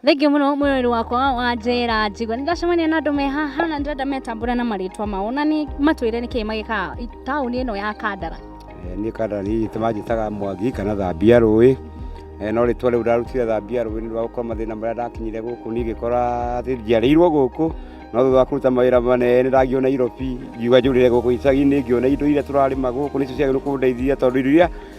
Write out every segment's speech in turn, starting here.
Thengiũ mũno mwĩrĩ wakwa wanjĩra njigua nĩ ndacemania na andũ me haha na ndĩrenda metambũra na marĩtwa mao na nĩ matwĩre nĩ kĩĩ magĩkaga i- taũni ĩno ya Kandara. Eh, niĩ kandara nĩ ithe manjĩtaga mwangi kana thambia rũĩ Eh, no rĩtwa rĩu ndarutire thambia rũĩ nĩ ũndũ wa gũkorwo mathĩna marĩa ndakinyire gũkũ niĩ ngĩkora atĩ njiarĩirwo gũkũ no thutha wa kũruta mawĩra manene ndangiona irobi ngiuga njũrĩre gũkũ icagi-inĩ ngĩona indo iria tũrarĩma gũkũ nĩcio ciagĩrĩirwo kũndeithia tondũ irio iria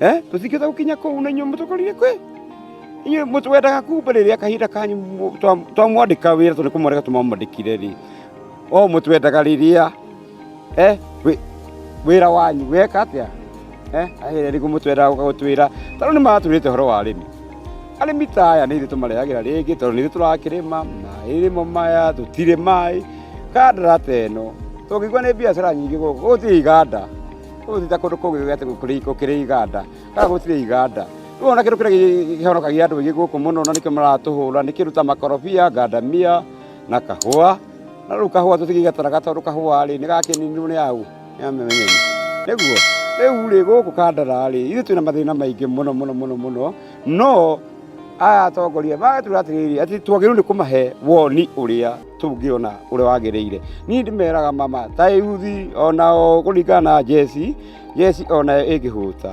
eh tutikeza gukinya kuu na inyuĩ mũtũkorire kwĩ inyuĩ mũtu wendaga kumba rĩrĩa kahinda kanyu mũ- twa- twamwandĩka wĩra tondũ nĩkũmwandĩka tũmamwandĩkire rĩ o mũtu wendaga rĩrĩa eh wĩ- wĩra wanyu weka atĩa eh ahĩre rĩgu mũtu wendaga gũka gũtwĩra tarĩu nĩmatwĩrĩte ũhoro wa arĩmi arĩmi ta aya nĩ ithuĩ tũmarehagĩra rĩngĩ tondũ nĩ ithuĩ tũrakĩrĩma maĩrĩmo maya tũtirĩ maĩ kandara ta ĩno tũngĩigua nĩ biacara nyingĩ gũkũ gũtirĩ iganda Ũgũthiĩ ta kũndũ kũngĩ gũgĩte gũkĩrĩ gũkĩrĩ iganda kana gũtirĩ iganda rĩu ona kĩndũ kĩrĩa gĩhonokagia andũ aingĩ gũkũ mũno na nĩkĩo maratũhũra nĩ kĩndũ ta makorobia ngandamia na kahũa na rĩu kahũa tũtigĩgataraga tondũ kahũa rĩ nĩgakĩninirwo nĩ aũ nĩ amenyereri nĩguo rĩu rĩ gũkũ kandara rĩ ithuĩ twĩna mathĩna maingĩ mũno mũno mũno mũno no aya atongoria magatwĩra atĩrĩrĩ atĩ twagĩrĩirwo nĩ kũmahe woni ũrĩa tũngĩona ũrĩa wagĩrĩire niĩ ndĩmeraga mama ta yuthi ona o kũringana na jesi jesi onayo ĩngĩhũta